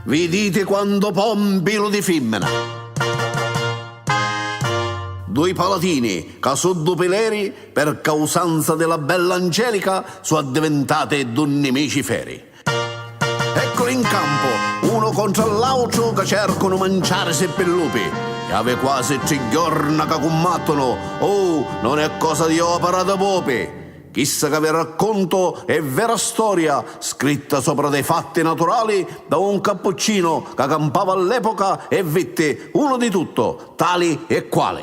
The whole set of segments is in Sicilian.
Viditi quantu pò 'n pilu di fimmina. Dui palatini ca su du pileri per causanza di la bella Angelica su addivintati du nimici feri. Ecculi in campu, unu contru a l'autru ca cercunu manciarisi pi lupi. Iavi quasi tri jorna ca cummattunu, uh, non è cosa di opera di pupi! Chissa ca vi raccuntu è vera storia scritta sopra dei fatti naturali da un cappuccino ca campava all'epoca e vitti unu di tutto, tali e quali.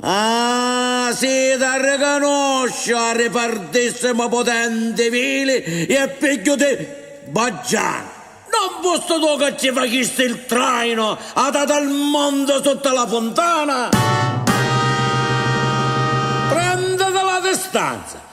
Ah, si t'arricanusciu, arripartissimu putenti, vili e figghiu di Baggianu! Non fussi tu ca ci facisti il traino a tata al monte sutta la funtana? Prenditi la distanza!